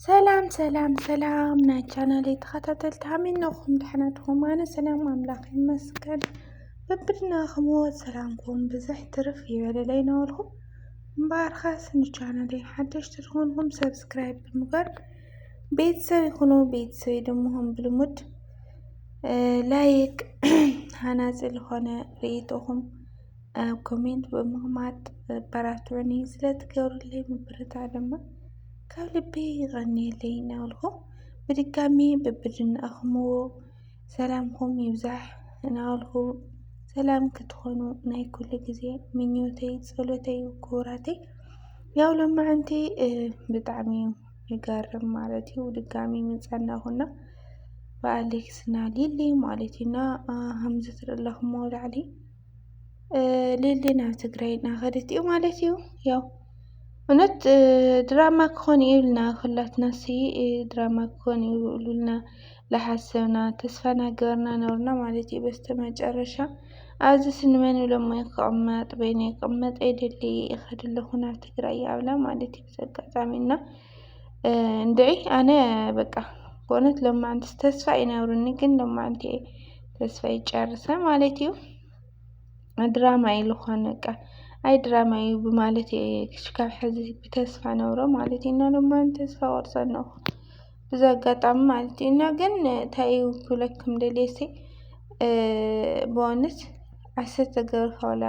ሰላም ሰላም ሰላም ናይ ቻናለይ ተኸታተልቲ ሃሚነኹም ደሕና ድኹም ኣነ ሰላም ኣምላኽ ይመስገን በብድናኹም ሰላምኩም ብዝሕ ትርፍ ይበለለይ ነበልኩም እምበኣርካስ ንቻናለይ ሓደሽቲ ዝኾንኩም ሰብስክራይብ ብምግባር ቤተሰብ ይኹኑ ቤተሰብ ድምኹም ብልሙድ ላይክ ሃናፂ ዝኾነ ርኢቶኹም ኣብ ኮሜንት ብምቕማጥ ኣበራትዑኒ ስለትገብሩለይ ምብርታዕ ድማ ካብ ልበይ ይቐንየለይ እናበልኩ ብድጋሚ በብድናእኹምዎ ሰላምኩም ይብዛሕ እናበልኩ ሰላም ክትኾኑ ናይ ኩሉ ግዜ ምኞተይ ጸሎተይ ክቡራተይ ያው ሎማዕንቲ ብጣዕሚ ይገርም ማለት እዩ ድጋሚ ምጸናኹና ብኣሌክስና ሊሊ ማለት እዩና ከምዚ ትርእለኹምዎ ላዕሊ ሊሊ ናብ ትግራይ እናኸደት እዩ ማለት እዩ። ያው እውነት ድራማ ክኾን እዩ ኢልና ኩላትና ሲ ድራማ ክኾን እዩ ኢልና ዝሓሰብና ተስፋ እናገበርና ነበርና ማለት እዩ። በስተመጨረሻ ኣብዚ ስንመን ኢሎሞ ክቕመጥ በይነይ ክቕመጥ ኣይደሊ ይኸድ ኣለኹ ናብ ትግራይ ኣብላ ማለት እዩ። በዚ ኣጋጣሚ እና እንድዒ ኣነ በቃ ብእውነት ሎማዓንቲ ተስፋ እዩ ነብሩኒ፣ ግን ሎማዓንቲ እየ ተስፋ ይጨርሰ ማለት እዩ። ድራማ እዩ ዝኾነ በቃ ኣይ ድራማ እዩ ብማለት እየ ክሽካብ ሕዚ ብተስፋ ነብሮ ማለት እዩ እና ሎማዓንቲ ተስፋ ቆርፀ ኣለኹ ብዚ ኣጋጣሚ ማለት እዩ እና ግን እንታይ እዩ ክብለኩም ደልየሲ ብእውነት ኣሰተ ገብረካ ዋላ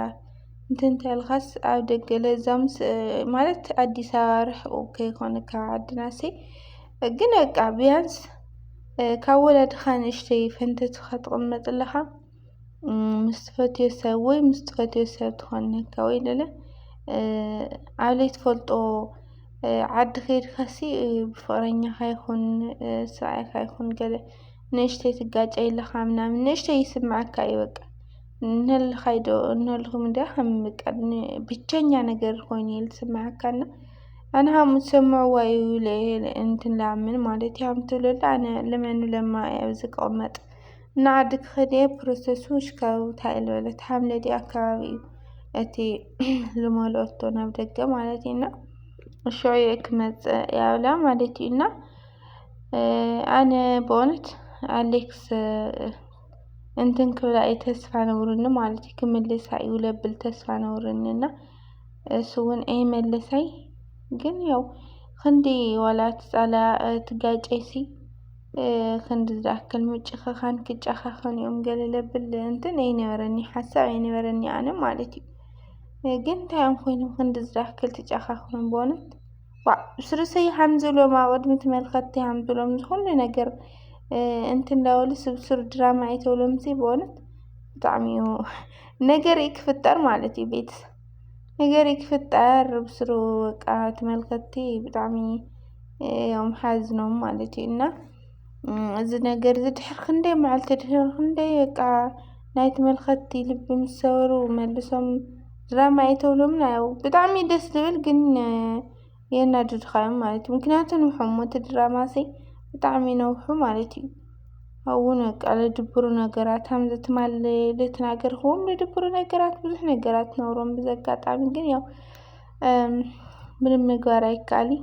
እንተ እንተልኻስ ኣብ ደገ ለዛምስ ማለት ኣዲስ ኣበባ ርሕቁ ከይኮነ ካብ ዓድናሲ ግን በቃ ቢያንስ ካብ ወለድኻ ንእሽተይ ፈንተትኻ ትቕመጥ ኣለኻ ምስ ትፈትዮ ሰብ ወይ ምስ ትፈትዮ ሰብ ትኾነካ ወይ ለለ ኣብ ለይትፈልጦ ዓዲ ከይድካሲ ብፍቕረኛኻ ይኹን ሰብኣይካ ይኹን ገለ ንእሽተይ ትጋጨይ ኣለኻ ምናምን ንእሽተይ ይስምዓካ እዩ በቃ እንህልኻይ ዶ እንህልኹም እንዲያ ከም በቃ ብቸኛ ነገር ኮይኑ እዩ ዝስምዓካና ኣነ ሃም ትሰምዕዋ እዩ እንትን ላምን ማለት እዩ ሃም ትብለላ ኣነ ልመኑ ለማ እያ ኣብዚ ክቕመጥ እና ዓዲ ክኸድ እየ ፕሮሰሱ ሽካብ ታይ ልበለት ሃም ለዲ ኣካባቢ እዩ እቲ ልመልኦቶ ናብ ደገ ማለት እዩና እሾ እየ ክመፅእ ያብላ ማለት እዩና ኣነ ብእውነት ኣሌክስ እንትን ክብላ እዩ ተስፋ ነብርኒ ማለት እዩ ክምልሳ እዩ ለብል ተስፋ ነብርኒ እና እሱ እውን ኣይመለሳይ ግን ያው ክንዲ ዋላ ትፃላ ትጋጨይሲ ክንዲ ዝኣክል ምጭኸኻን ክጨኻኸኑ እዮም ገለ ለብል እንትን ኣይነበረኒ ሓሳብ ኣይነበረኒ ኣነ ማለት እዩ ግን እንታይ እዮም ኮይኖም ክንዲ ዝኣክል ትጨኻኸኑ በእውነት ዋእ ስርስይ ሃምዝሎም ኣወድም ተመልከቲ ሃምዝሎም ዝኹሉ ነገር እንትንዳወሉ ስብሱር ድራማ ኣይተብሎም ሲ በእውነት ብጣዕሚ እዩ ነገር ክፍጠር ማለት እዩ ቤት ነገር ክፍጠር ብስሩ በቃ ተመልከቲ ብጣዕሚ እዮም ሓዝኖም ማለት እዩ እና እዚ ነገር እዚ ድሕሪ ክንደይ መዓልቲ ድሕሪ ክንደይ በቃ ናይ ተመልከትቲ ልቢ ምስ ሰበሩ መልሶም ድራማ እዩ ተብሎምና ያው ብጣዕሚ እዩ ደስ ዝብል ግን የናድድኻ እዮም ማለት እዩ ምክንያቱ ንውሖሞ እቲ ድራማ ሲ ብጣዕሚ ነውሑ ማለት እዩ ኣብኡውን በቃ ልድብሩ ነገራት ከምዚ ትማል ልተናገርክዎም ልድብሩ ነገራት ብዙሕ ነገራት ነውሮም ብዚ ኣጋጣሚ ግን ያው ምንም ምግባር ኣይከኣልን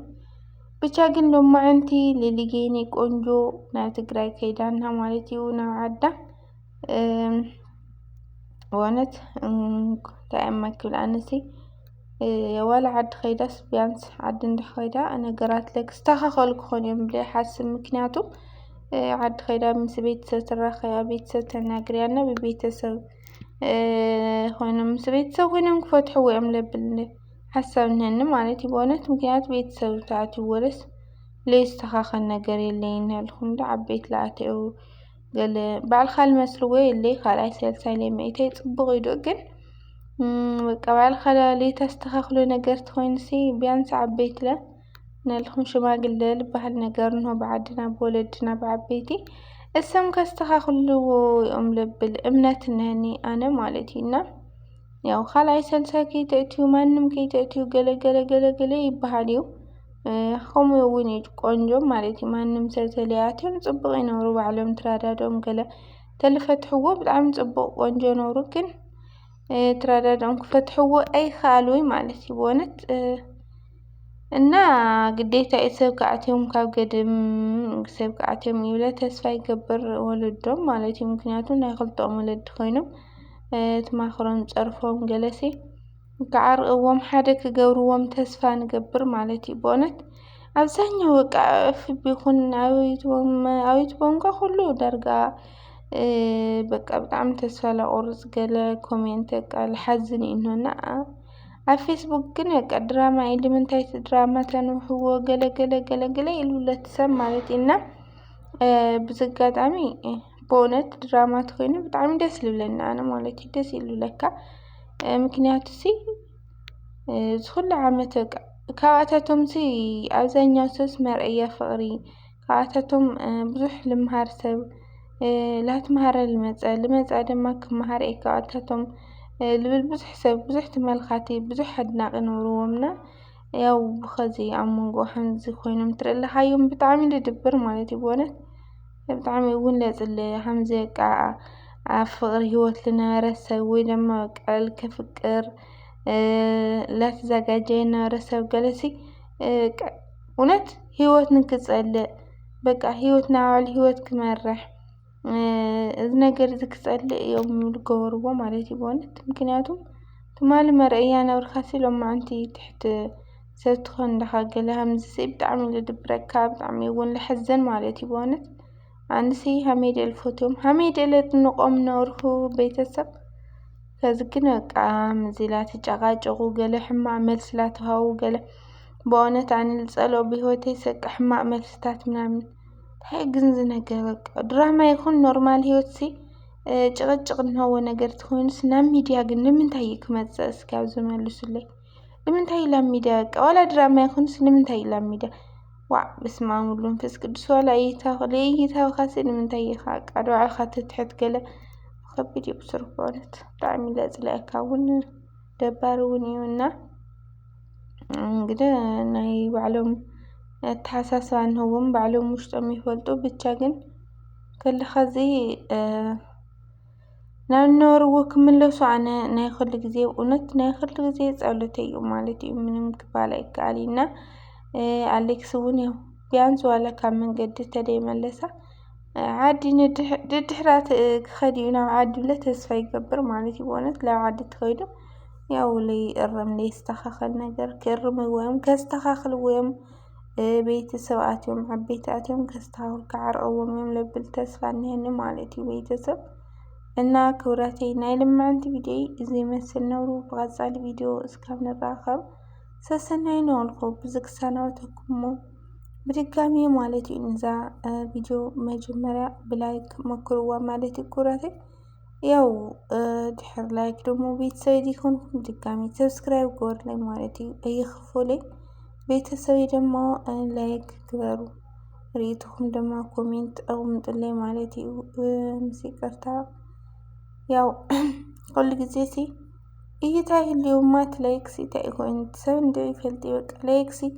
ብቻ ግን ሎማዕንቲ ሊሊጌኒ ቆንጆ ናብ ትግራይ ከይዳና ማለት እዩ ናብ ዓዳ በእውነት እንታይ እመ ክብል ኣነሲ ዋላ ዓዲ ከይዳስ ቢያንስ ዓዲ እንዳ ከይዳ ነገራት ለክስተኻኸሉ ክኾኑ እዮም ብለ ሓስብ ምክንያቱ ዓዲ ከይዳ ምስ ቤተሰብ ትራኸያ ቤተሰብ ተናግርያና ብቤተሰብ ኮይኖም ምስ ቤተሰብ ኮይኖም ክፈትሕዎ እዮም ለብል ሓሳብ እነሀኒ ማለት እዩ በእውነት ምክንያቱ ቤተሰብ ተኣትዩ ወለስ ለይስተኻኸል ነገር የለይ እናልኩም እንዶ ዓበይቲ ለኣተዩ ገለ ባዕልካ ልመስልዎ የለይ ካልኣይ ሳልሳይ ለይመኢተይ ፅቡቕ እዩ ዶ ግን በቃ ባዕልካ ለይተስተኻኽሎ ነገር ተኾይኑሲ ቢያንስ ዓበይትለ ነልኩም ሽማግለ ዝበሃል ነገር እንሆ ብዓድና ብወለድና ብዓበይቲ እሰም ከስተኻኽልዎ እዮም ልብል እምነት እነኒ ኣነ ማለት እዩ እና ያው ካልኣይ ሰልሳይ ከይተእትዩ ማንም ከይተእትዩ ገለገለ ገለገለ ይበሃል እዩ ከምኡ እውን እዩ ቆንጆ ማለት እዩ ማንም ሰብ ተለያትዮም ፅቡቅ ይነብሩ ባዕሎም ትራዳዶም ገለ ተልፈትሕዎ ብጣዕሚ ፅቡቅ ቆንጆ ነብሩ ግን ትራዳዶም ክፈትሕዎ ኣይከኣሉይ ማለት እዩ ብእውነት እና ግዴታ እዩ ሰብ ክኣትዮም ካብ ገድም ሰብ ክኣትዮም ይብለ ተስፋ ይገብር ወለዶም ማለት እዩ ምክንያቱ ናይ ክልተኦም ወለዲ ኮይኖም ትማክሮም ፀርፎም ገለሲ ክዓርቕዎም ሓደ ክገብርዎም ተስፋ ንገብር ማለት እዩ በእውነት ኣብዛኛው በቃ ፍቢ ይኹን ኣብ ዩቱቦም ኣብ ዩቱቦም እንኳ ኩሉ ዳርጋ በቃ ብጣዕሚ ተስፋ ላቆርፅ ገለ ኮሜንት በቃ ልሓዝን እዩ እኖ እና ኣብ ፌስቡክ ግን በቃ ድራማ እዩ ልምንታይ እቲ ድራማ ተንውሕዎ ገለ ገለ ገለ ገለ ይብሉለት ሰብ ማለት እዩ እና ብዚ ኣጋጣሚ ብእውነት ድራማ ተኮይኑ ብጣዕሚ ደስ ልብለኒ ኣነ ማለት እዩ ደስ እዩ ልብለካ ምክንያቱ ሲ ዝኩሉ ዓመት በቃ ካብኣታቶምሲ ኣብዛኛው ሰብስ መርኣያ ፍቅሪ ካብኣታቶም ብዙሕ ልምሃር ሰብ ላትምሃረ ልመጸ ልመጸ ደማ ክምሃር እየ ካብኣታቶም ልብል ብዙሕ ሰብ ብዙሕ ተመልካቲ ብዙሕ ኣድናቂ ነርዎም እና ያው ብከዚ ኣብ መንጎ ከምዚ ኮይኖም ትርኢ ኣለካ እዮም ብጣዕሚ ድድብር ማለት እዩ ብእውነት ብጣዕሚ እውን ለፅለ ከምዚ በቃ ኣብ ፍቅሪ ሂወት ዝነበረ ሰብ ወይ ደማ በቃ ከፍቅር ላተዛጋጀየ ዝነበረ ሰብ ገለሲ እውነት ህይወት ንክፀልእ በቃ ህይወት ናይ ባዕሉ ህይወት ክመርሕ እዚ ነገር እዚ ክፀልእ እዮም ዝገበርዎ ማለት እዩ በእውነት ምክንያቱ ትማሊ መርኣያ ነበርካሲ ሎማዓንቲ ትሕቲ ሰብ ትኾን ዳኻ ገለ ከምዝሲ ብጣዕሚ እዩ ልድብረካ ብጣዕሚ እውን ልሕዘን ማለት እዩ በእውነት ኣንሲ ሃመይ ድየ ልፈትዎም ሃመይ ድየ ለድንቖም ነበርኩ ቤተሰብ ከዚ ግን በቃ ምዚ ላተጨቓጨቑ ገለ ሕማቕ መልሲ ላተውሃቡ ገለ ብኦነት ኣነ ዝጸልኦ ብህይወተይ ሰቂ ሕማቅ መልስታት ምናምን እንታይ ግን ዝነገር ድራማ ይኹን ኖርማል ህይወትሲ ጭቕጭቕ እንሀዎ ነገር ትኾይኑስ ናብ ሚድያ ግን ንምንታይ እዩ ክመጽእ እስኪ ኣብዚ መልሱለይ ንምንታይ እዩ ላብ ሚድያ በቃ ዋላ ድራማ ይኹንስ ንምንታይ እዩ ላብ ሚድያ ዋዕ በስመ ኣብ ወወልድ ወመንፈስ ቅዱስ ዋላ እይታ ለእይታኻሲ ንምንታይ ኢኻ በቃ ንባዕልኻ ትትሕት ገለ ከቢድ እዩ ብስሩ ብእውነት ብጣዕሚ ለጽልኣካ እውን ደባሪ እውን እዩ እና እንግዲ ናይ ባዕሎም ኣተሓሳስባ እንህዎም ባዕሎም ውሽጦም ይፈልጡ ብቻ ግን ከለካ እዚ ናብ ነበርዎ ክምለሱ ኣነ ናይ ኩሉ ግዜ እውነት ናይ ኩሉ ግዜ ፀሎተ እዩ ማለት እዩ ምንም ክባል ኣይከኣል እና ኣሌክስ እውን ያው ቢያንስ ዋላ ካብ መንገዲ ተደይመለሳ ዓዲ ድድሕራት ክኸድ እዩ ናብ ዓዲ ብለ ተስፋ ይገብር ማለት እዩ በእውነት ናብ ዓዲ ተኸይዱ ያው ለይእረም ለይስተኻኸል ነገር ክእርም ወይም ከስተኻኽል ወይም ቤተሰብ ኣትዮም ዓበይቲ ኣትዮም ከስተኻኽሉ ክዓርቕዎም እዮም ለብል ተስፋ እኒሀኒ ማለት እዩ ቤተሰብ እና ክብረተይ ናይ ልምዕንቲ ቪድዮ እዚ ይመስል ነብሩ ብቐፃሊ ቪድዮ እስካብ ንራኸብ ሰሰናይ ነወልኩ ብዝግሳናወተኩሞ ብድጋሚ ማለት እዩ ንዛ ቪድዮ መጀመርያ ብላይክ መክርዋ ማለት እዩ ኩራተይ። ያው ድሕር ላይክ ደግሞ ቤተሰብ ዲኮንኩም ድጋሚ ሰብስክራይብ ግበሩለይ ማለት እዩ እይክፉለይ። ቤተሰብ ደግሞ ላይክ ግበሩ፣ ርኢትኩም ድማ ኮሜንት ኣቕምጡለይ ማለት እዩ። ምስ ይቅርታ ያው ኩሉ ጊዜ ሲ እይታ ይህልው ማት ላይክ ሲ እንታይ ይኮን ሰብ እንደ ይፈልጥ ይበቃ ላይክ ሲ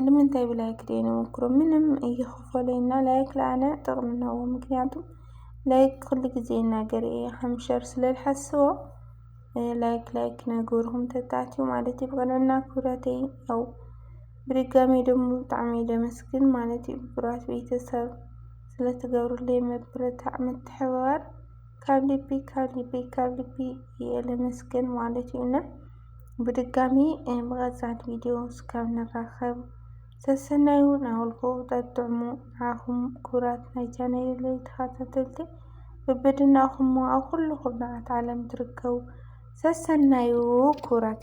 ንምንታይ ብላይክ ደይ ነመክሮ ምንም እይኽፈለና ላይክ ለኣነ ጥቕምናዎ ምክንያቱም ላይክ ኩሉ ጊዜ እናገር እየ ሃምሸር ስለልሓስቦ ላይክ ላይክ ነገርኹም ተታትዩ ማለት እዩ ብቐንዕና ክብረተይ ያው ብድጋሚ ደሞ ብጣዕሚ ደመስግን ማለት እዩ ብራት ቤተሰብ ስለትገብሩለይ መብረታዕ ምትሕብባር ካብ ልቢ ካብ ልቢ ካብ ልቢ እየ ለመስግን ማለት እዩ እና ብድጋሚ ብቐፃሊ ቪድዮ እስካብ ንራኸብ ሰሰናዩ ናበልኩ ጠጥዕሙ ንዓኹም ክቡራት ናይ ቻነለይ ተኸታተልቲ በበድናኹም ኣብ ኩሉ ኩርናዓት ዓለም ትርከቡ ሰሰናዩ ክቡራት